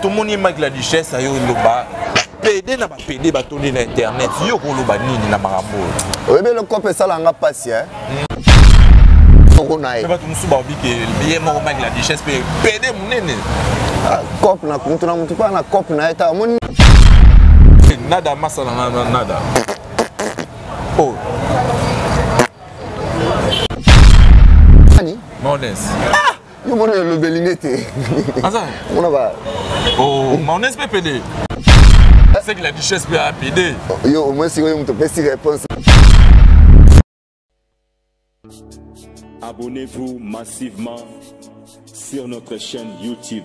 tomoni mike la duchesse ayo loba pede na bapede batondi na internet yo koloba nini na makambo oyo oyebi eloko mpe esala nga mpasi e moko na ye bato mosusu baobi ke ye moko mike la duchesse mpe pede monene ah, cope na motu na motu mpa na cope na ye ta omoni nada masa na nada oh. Nani? Mones. Ah! Yo mwana ya lobeli nete. Aza. Mwana ba. Oh, maonese pe pede. C'est que la duchesse peut appeler. Yo, au moins, si vous me si réponse. Abonnez-vous massivement sur notre chaîne YouTube.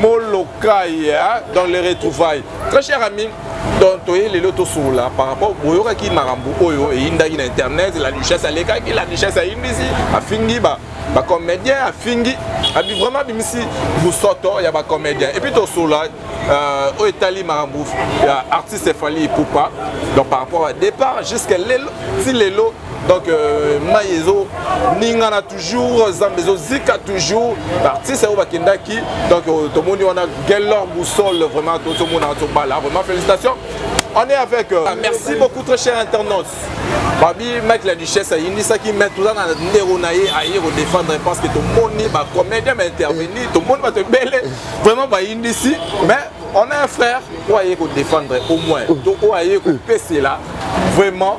molokai hein, dans les retrouvailles très cher ami donc toye lelo tosolola par rapport boyokaki makambo oyo eyindaki na internet la duchesse alekaki la duchesse ayindisi afingi ba bacomédien afingi abi vraiment abimisi bosoto ya bacomédien epuis tosolola euh, oyo etali makambo ya artiste efali ipupa donc par rapport ya départ jusqu'à lelo ti lelo donc euh, mai ezo ningana toujours zambe ezozika toujours baartiste oyo bakendaki donc euh, tomoni wana gelor boussole vraiment tozomona tobala vraiment félicitation on est avec euh, ah, merci beaucoup très cher internaute babi mike la duchesse ayindisaki mai toza na ndeko na ye aye kodefendre parce que tomoni bacomédien baintervenir tomoni bato ebele vraiment bayindisi mais on a un frère oyo aye kodefendre au moins to oyo aye kopesela vraiment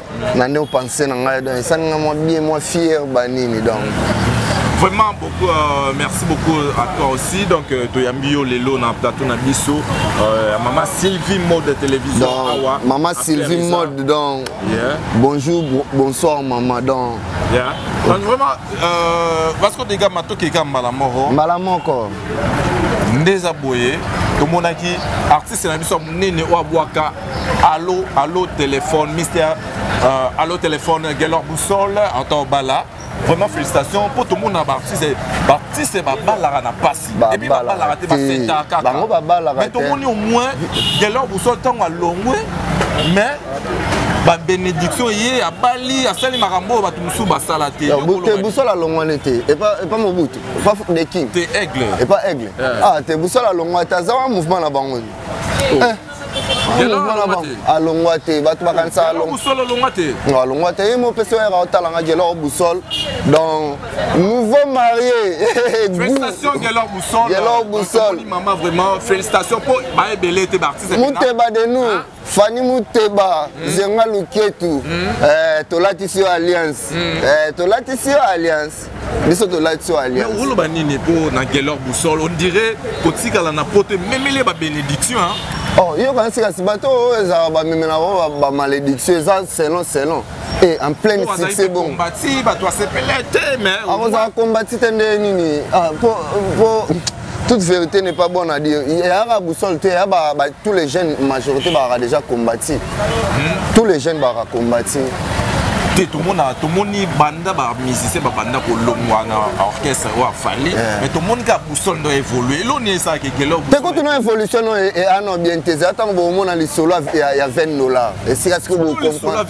na nde opense na ngai donc esali ngai mwa bien mwa fier banini donc vraiment beaucoup euh, merci beaucoup à toi aussi donc euh, toyambi yo lelo na plateau na biso euh, maman sylvie mode télévision awa maman sylvie mode donc yeah. bonjour bonsoir maman donc yeah. donc vraiment euh, parce que dega matoki eka mbala moko mbala moko nde eza boye tomonaki artiste na biso ya monene oyo abwaka Allo, allo, téléphone, Mister, euh, allo, téléphone, Gelor Boussole, Anto Bala. Vraiment, félicitations pour tout le monde. Baptiste, Baptiste, Babalara n'a pas si. Et puis, Babalara, t'es pas fait ta caca. Mais tout le monde, au moins, Gelor Boussole, tant à longue, mais. babénédiction ye abali asali makambo oyo bato mosusu basala te te busola alongwani te epa mobutu epa the king te aigle epa aigle ah te busola alongwani te aza wa mouvement na bango alongwa te bato bakanisa alongwa te alongwa te ye mopesi oyaka otala nga gelor bousol donc nouveau marié gelor bousol muteba de nous hein? fani muteba mm. zenga luketu mm. eh, tolatisi yo alliance mm. eh, tolatisi yo alliance biso tolati so alliance oloba nini mpo na gelor boussole on dirait kotikala na poto ememeli ya babénédiction oh, yo kanisi kasi bato oyo ezala bamemela bango bamalédiction eza selon selon e en pleine succès bongo bato asepele te mais akozala kombati te nde nini mpo ah, toute vérité n'est pas bonne à dire yaka boussole te ya ba, ba, tous les jeunes majorité bazalaka déjà combati hmm? tous les jeunes bazalaka combati te tomona tomoni banda bamusicien babanda kolongwa na orchestre oyo afali eh. mais tomoni kaka boussole ndo évolue eloni esalaka ekele te kutu no évolution no eano bien te eza ntango bomona lisolo ya 20 dollar esika sikoyo bolisolo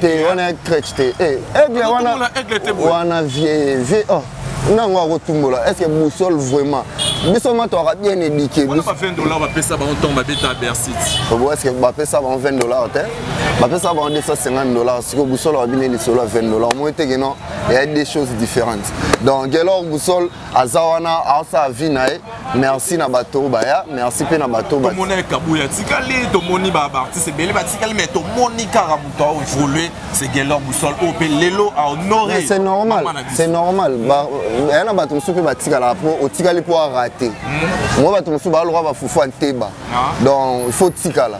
te wana ya crèche te eh, aigle wana wana vie vie oh na yango akotumbola est ce que boussole vraiment biso ma toaka bien édike est ce que bapesa bango 20 dollars te bapesa bango 250 dollars siko boussole abine lisolo ya 20 dollars moi te keno eya des choses différentes donc gelor boussole aza wana aosala vie na ye merci na bato oyo baya merci mpe na bato tomoni ekabu ya tikali tomoni baartiste ebele batikali mais tomoni kaka moto aevolue se gelor busol oyo mpe lelo ahonore c'est normal c'est normal aya na bato mosusu mpe batikalaka mpo otikali mpo arate hmm. moi bato mosusu baaloka bafufu ya nteba ah. donc il faut tikala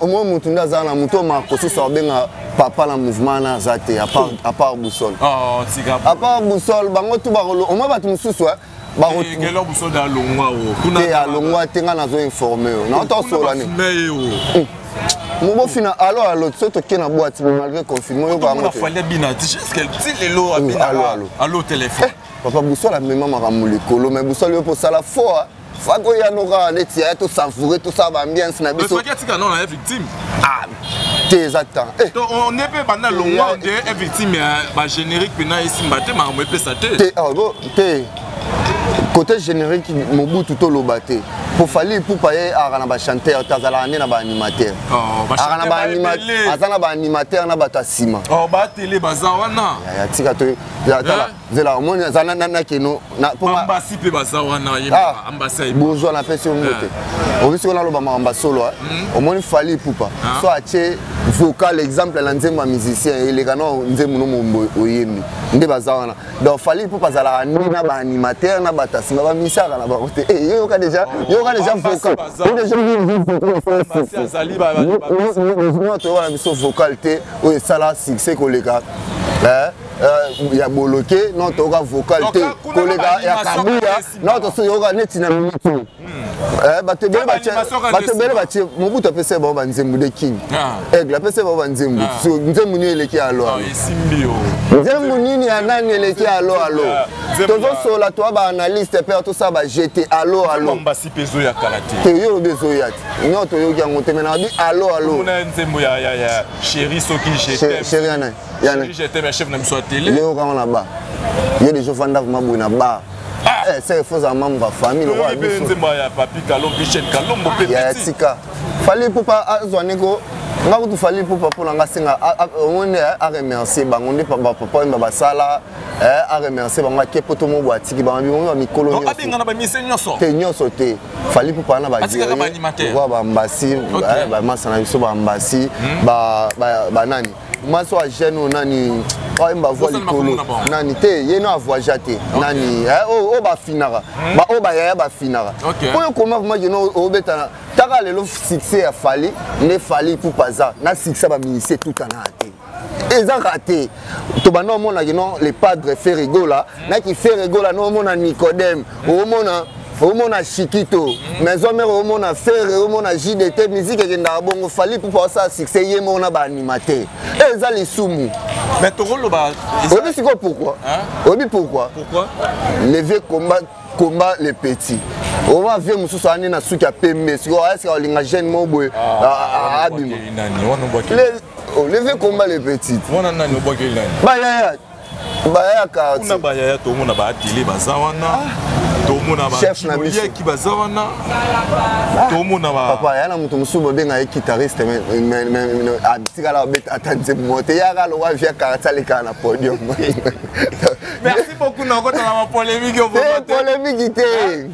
omoi motu nde azala na moto ma kosusu abenga papa na mouvement wana aza te apart boussole oh, apart boussole bango tu bakolo omoi bato mosusu eh, te alongwa te ngai nazo informe yo naota osola ni mobofina alo alo so toke na bwati malgré confinement yo bango papa boussole amema makambo likolo mais boussole yo mpo osala fort faki oyano kaka neti yaya tosavoure tosala baambiance na biso faki atika nona ya victime ah te eza temps eh. to on est pe banda longwa nde ya victime ya ba générique pena esimba te makambo epesa te te ah, bo te côté générique mobutu toloba te po fali ipupa ye aka na bachanteur te azalaka nde na baanimateur oh, aza na baanimateur na bato ya nsima oh, batele baza wana tika to zela omoni aza na keno ambasi mpe baza wana ah, ambasai bozwa napesi yo mbote eh. obisi wana aloba makambo ya solo eh. hmm. omoni fali ipupa ah. so atie vocal exemple na nzembo ya musicien eh, eleka na nzembo no mombo oyembi nde baza wana donc fali ipupa azalaka nde na baanimateur na batasima bamisaka na bango te yo yoka deja oh, yoka deja vocal toyokana biso vocal te oyo esala succès koleka Euh, ya boloke no toyoka vocal te koleka ya kabuya no tosoyoka neti na miniti hmm. eh, bato ebele batie mobutu apesa bango banzembo de king ah. aigle apesa bango banzembo ah. nzembo nini eleki ya alo ah, nzembo nini ya nani eleki ya alo alo tozosola toa baanalyste mpe tosala bajete alo alo toyoki olobi ezoya te no toyoki yango te menaka bi alo alo sheri ya nani Yana. J'ai été chef na biso télé. Leo kama na ba. Yo les gens fanda kuma boy na ba. Ah. Eh, c'est faut za membre famille le roi biso. Nzemba ya papi Kalom Bichel Kalom bo petit. Ya tika. Fallait pour pas azwa neko nga kutu fali pupa mpo na nga senga yango nde eh, aremercie bango nde bapapa oyo basala eh, aremercie bango ake mpo to moko atiki bango bimomi ba mikolo nyonso te nyonso te fali pupa na bagewa bambasi bamasa na biso bambasi banani mwasi oyo agene oyo nani oyemba oh, voix likolo nani te ye no avoyagea te nani eh, oyo oh, oh, bafinaka hmm. baoyo bayaya bafinaka oyo okoma vraimen keno obetana taka lelo succès ya fali nde fali pupa aza na succès baministre etutanaa te eza rate tobanda omonaki no le padre ferregola naki ferregola no omona nicodème omona omona chikito maison mère omona ferre omona jdt musique ekendaka bongo fali pupa osala succès ye moko na baanimateur eza lisumu oyebi sikoyo pourkui oyebi pourkui le vieux combat combat le petit owa vie mosusu ane na suki ya pembe sikoyo ayesika olinga jeune moko boye abima le vieux combat le petit bayaya bayaka kuna bayaya tomona baatele baza wana ah. tomona bayoki baza wana ah. tomona papa ya na moto mosusu babenga ye kitariste atikala abeta ata nzembo mo te yaka lowa via karati alekaka na podium merci beaucoup nakotala bapolemike polemiki te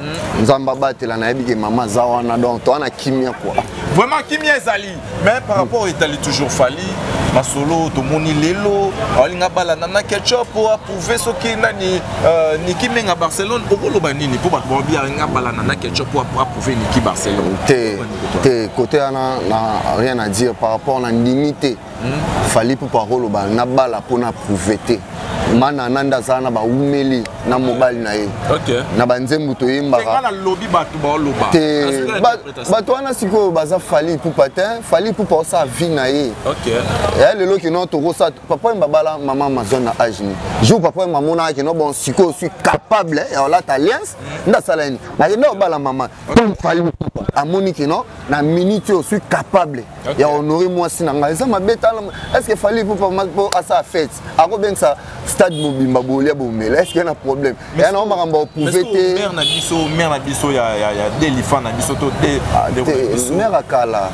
Mm. nzambe abatela nayebi ke mama aza wana donc toa na kimia kua vraiment kimia ezali mais par rapport etali toujours fali masolo tomoni lelo alinga balanda na ketchup po approuve soki nani euh, niki menga barcelone okoloba nini mpo bato baobi alinga balanda na ketchup po approuve niki barcelone te te kote wana na rien à dire par rapport na ndimi te hmm? fali ipupa akoloba nabala mpo na prouve te mana nande azala na baumeli na mobali na ye okay. na banzembo toyembaka bato wana sikoyo baza fali ipupa te fali ipupa osala vie na ye okay. ya eh, lelo kino tokosala papa yemba bala mama amazon na age ni jour papa yemba amonaka kino bon sikoyo suis capable ya olata alliance mm. nde asala nini nakende obala mama mpo fali ipupa amoni kino na minute oyo suis capable okay. ya honore mwasi na ngai eza mabe tala estce fali po asala fete akobengisa stade mobimba bolia bomela estce na problème ya na makambo oprouve te mare na biso mare na biso ya delifa na biso to te ah, mare ya kala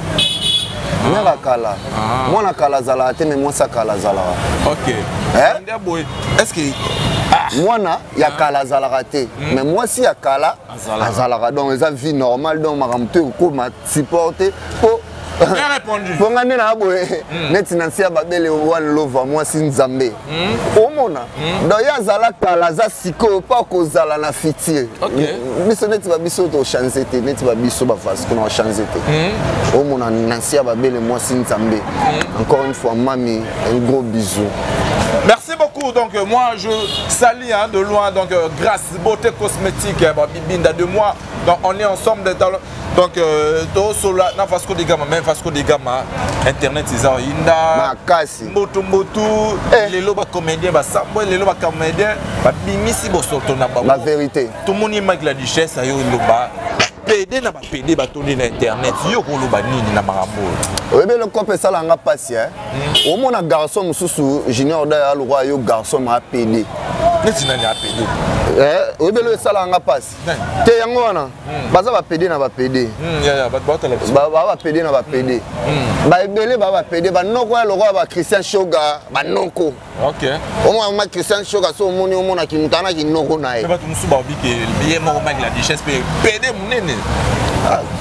mare ya kala ah. mwana kala azalaka te me mwasi ya kala azalaka ok eh? estce mwana ya kala azalaka te mais mwasi ya kala azalaka donc eza vie normale donc makambo to ekokoma support te po mpo ngai nde naa boye hmm. neti na nsi ya babele wani lova mwasi nzambe hmm. omona hmm. donc ye azala kala aza sikoyo mpo akozala na futur biso neti babiso tochange te neti babiso bavasi kuna ochange te omona na nsi ya babele mwasi nzambe encore une fois mami un gros bisou Merci beaucoup. Donc euh, moi je salis hein, de loin donc euh, grâce beauté cosmétique hein, Bibinda de moi. Donc on est ensemble des talents. donc euh, tosola na vasco de gama mais vasco de gama internet eza oyinda makasi mbutu mbutu eh. lelo bacomédien basambwe lelo bacomédien babimisi bosoto na bango la vérité tomoni mike la duchesse ayo eloba pede na bapede batondi na internet yo koloba nini na makambo oyo oyebi eloko mpe esala nga mpasi e hmm. omona garçon mosusu junior daya lokwa yo garçon ma apede neti nani apede eh, oyebi eloko esala nga mpasi te yango wana hmm. baza bapede na bapede hmm, baa bapede na bapede hmm, baebele baa bapede banoko ya lokola bachristian shoga banoko omama christian shoga so omoni omona kimutu ana kinoko na ye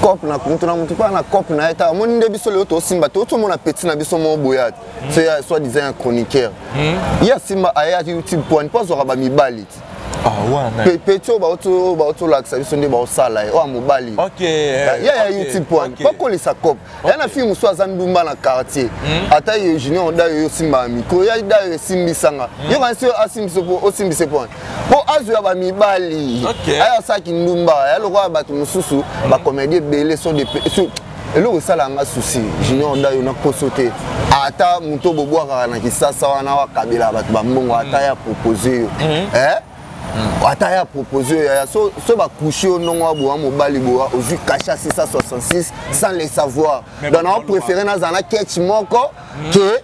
cop na moto na moto mpo na cop na ye ta omoni nde biso lelo tosimba te otomona peti na biso moko boya te so ya soit disant ya chroniqueur ye asimba ayaki youtube pwani mpo azwaka bamibali te Ah, peti oyo baotolakisa biso nde baosala ye oyo mobali ya ya youtube wana bakolisa cop ya na fille mosusu aza ndumba na quartier hmm? ata ye junior dayo yo osimbaka mikro ya dayo esimbisanga hmm? yokanisi yo asimbisa po osimbisa po wana po azo ya bamibali aya asaki ndumba ya lokola bato mosusu hmm? bacomédie ebele eloko esala nga susi junior ndayo na poso te ata moto bobwakaka na kisasa wana wakabelaka bato bambongo ata mm. ya propose yo mm. eh? mm. ata ya propose yo yaya so, so bakushi yo ndongo aboya mobali boya ozwi kasha 666 sans le savoir donc naopréféré nazala na ketch moko ke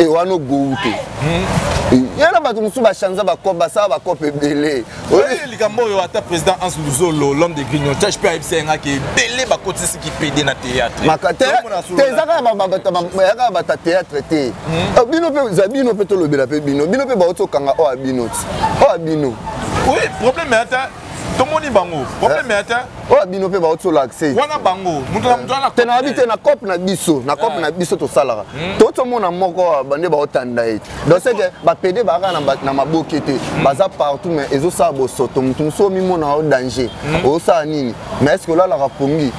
e wana ogowu te hmm. ya na bato mosusu bachanza bacope basala bacope ebele likambo oyo ata président hans luzolo l'homme de grignotage mpe ayebisa ye ngaki ebele bakotisi kipede na théâtreezakaka bata théâtre te hmm. oh, bino mpe za bino mpe tolobela mpe bino bino mpe bauti okanga oyo oh, ya bino ti oyo oh, ya bino oui problème ata tomoni bango problème ya te oyo bino mpe bauti ola accès wana bango moto na moto wana te nayebi te na cope na biso na cope na biso tosalaka to tomona moko bande baotanda ye donc c'est que bapede baaka na maboke te baza partout mais ezosala bosoto moto mosusu omimona o danger osala nini mais est ce que olalaka pongi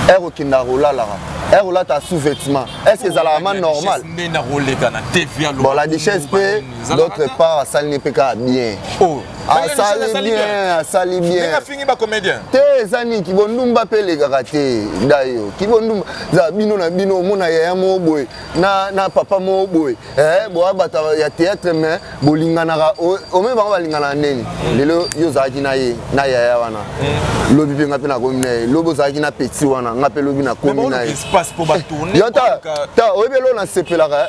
ere okendaka kolalaka ere olata sous-vêtement est ce que ezalaka ma normal bon la duchesse mpe d'autre part asali ne mpe kaka bien asali bien asali bienfingi bacomédien te eza nini kibondumba mpe elekaka te dayo kibondumba za bino na bino omona yaya moko boye na, na papa moko boye eh, boya bata ya théâtre mais bolinganaka ome bango balinganaka ndeni lelo yo ozalaki na ye na yaya wana mm. lobi mpe nga mpe nakomi na ye lobi ozalaki na petit wana nga mpe lobi nakomi na ye ta oyebi elo nasepelaka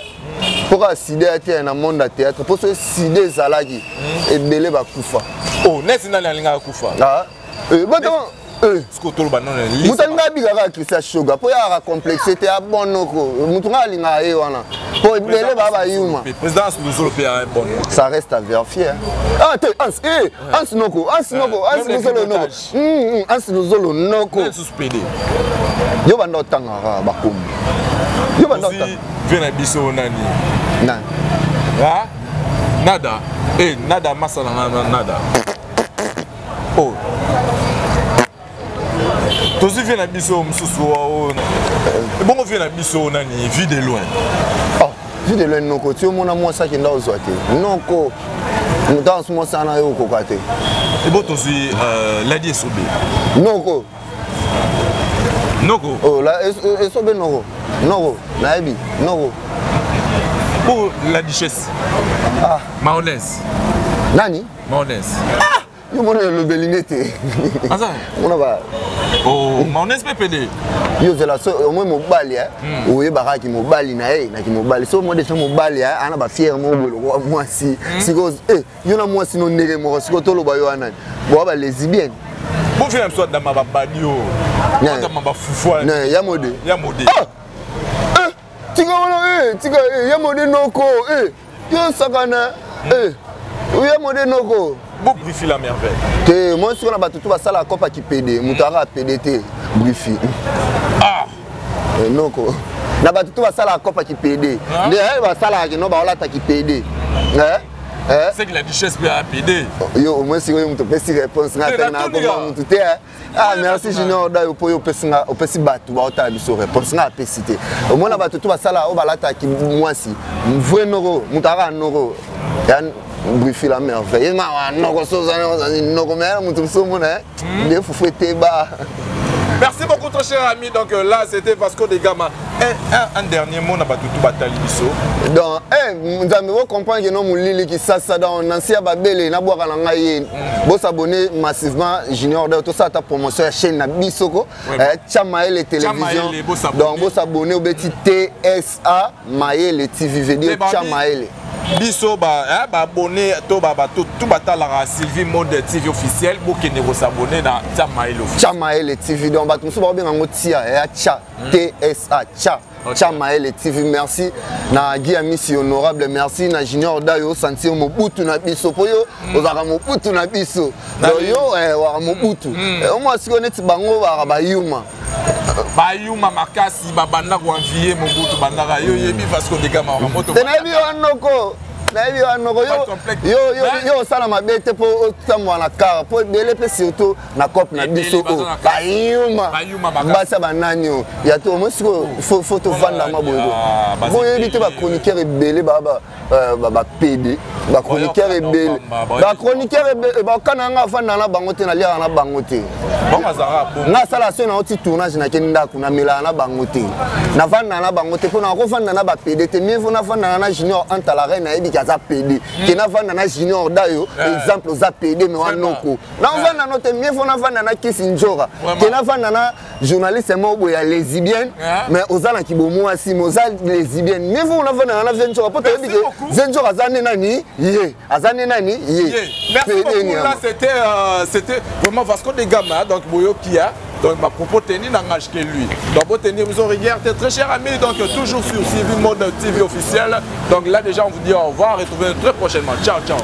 mpo kaka sida ya te na monde ya théâtre mpo soki sida ezalaki hmm. ebele bakufa o oh, nesi nani alingaka kufa ah, eh, eh. moto alingaka bika kaka christian shoga mpo yaka complexe te abonoko moto ngai alingaka ye wana mpo ebele baa bayuma ça reste à vérifier ah te ans eh, ans noko ans noko ans luzolo noko Hum, ansi luzolo noko. Nani susu pede? Yo banda otangaka bakombo. Yo banda otangaka. Vie na biso nani? Nani? Ha? Nada. Eh, nada masa na nada. Oh. tozwi vie na biso mosusu oyo ebongo vie na biso nani vie de loin oh. Vu de loin noko ti omona mwasi akenda ozwa te. Noko moto ansu mwasi ana yo okoka te. Ebo tozwi euh, ladi esobe. Noko. Noko. Oh, la esobe noko. Noko, nayebi. Noko. Pour la duchesse. Ah. Maolaise. Nani? Maolaise. Ah! yo mona elobeli nde te aza mona ba oh, maonese mpe pede yo ozala so omoi mobali eh? hmm. oyebaka kimobali na ye na kimobali so omoi deja mobali eh? ana bafiere moko boye lokola mwasi hmm. sikoyo eh, yo na mwasi no ndenge moko sikoyo toloba yo wana boa balesibienne bofie na biso adama babadi o adama bafufu ya mode ya mode ah! tika wana eh, tika eh, ya mode noko eh, yo sakana eh, ya mode noko brifi la merveille te moi sikoyo na bato tu basala kopa kipede moto aka apede te brifi ah. eh, noko na bato tu basala kopa kipede ah. nde eh, basalaka kino baolata kipede eh? Eh? C'est que la duchesse peut appeler. Yo, au moins, si vous avez une réponse, vous avez une réponse. ah merci junior dayo mpo yo opesi nga opesi bato baotala biso réponse nga apesi te omona bato to basala oyo balataki mwasi vrai noko moto aka noko brifi la merveille ye mawa noko sozani noko meyala moto mosusu omona eh? hmm. nde fufu eteba Merci beaucoup, très cher ami. Donc euh, là, c'était Vasco de Gama. Un, un, un dernier mot, Nabatutu Batali Bisso. Donc, eh, vous comprenez que nous, Lili qui ça, ça, dans Nancy Babele, Nabouaka Nangaye. Bo s'abonner massivement Junior Dao, tout ça ta promotion ya chaîne na bisoko, ouais, eh, Chamaele télévision. Donc bo s'abonner au beti TSA Maele TV veut Chamaele. biso baabonne eh, to bato tu batalaka sylvie mode tv officiel bokende kosabonne na tiamaele tiamaele tv donc bato mosusu bakobenga yango tia ya eh, tia tsa tia Cha Maele TV merci na Guy Amisi honorable merci na Junior Dayo sentir mobutu na biso po yo mm. ozaka mobutu na biso donc yo eh, waka mobutu mm. eh, omwa siko neti bango baka bayuma bayuma makasi babanda koanvie mobutu bandaka yo yebi vasco degama waka moto te nayebi yo anoko nayebi yo anoko yo osala mabe te po otambwa na kara po ebele mpe surtout na cope na biso oyo bayuma basa banani oyo ya to omoi sikoyo fo tovanda mwa boye ah, boyebi te bachroniqueur ebele bapede euh, bachroniqueur ebele bachroniqueur ebele bakana yanga afanda na bango te naliaka na bango te nga asala soki nango ti tournage nake ndako namelaka na bango te nafandaka na bango te mpo na kofanda na bapede te mie fo nafandaka na junior anta la reine ayebi ke aza pede ke nafanda na junior dayo eh. exemple oza pede me wanoko navanda no te mieux faut navanda na kisi njora ke navanda na journaliste moko boye ya lesibienne mais oza na kibomwasi mais oza lesibienne mieux faut navanda na vie njora mpo toyebi ke vie njora aza nde nani ye aza nde nani ye merci beaucoup là c'était euh, c'était vraiment vasco de gama donc boyoki ya donc ma propos tenue n'engage que lui donc pour tenir vous regarde très cher ami donc toujours sur CV Mode TV officiel donc là déjà on vous dit au revoir et retrouvez très prochainement ciao ciao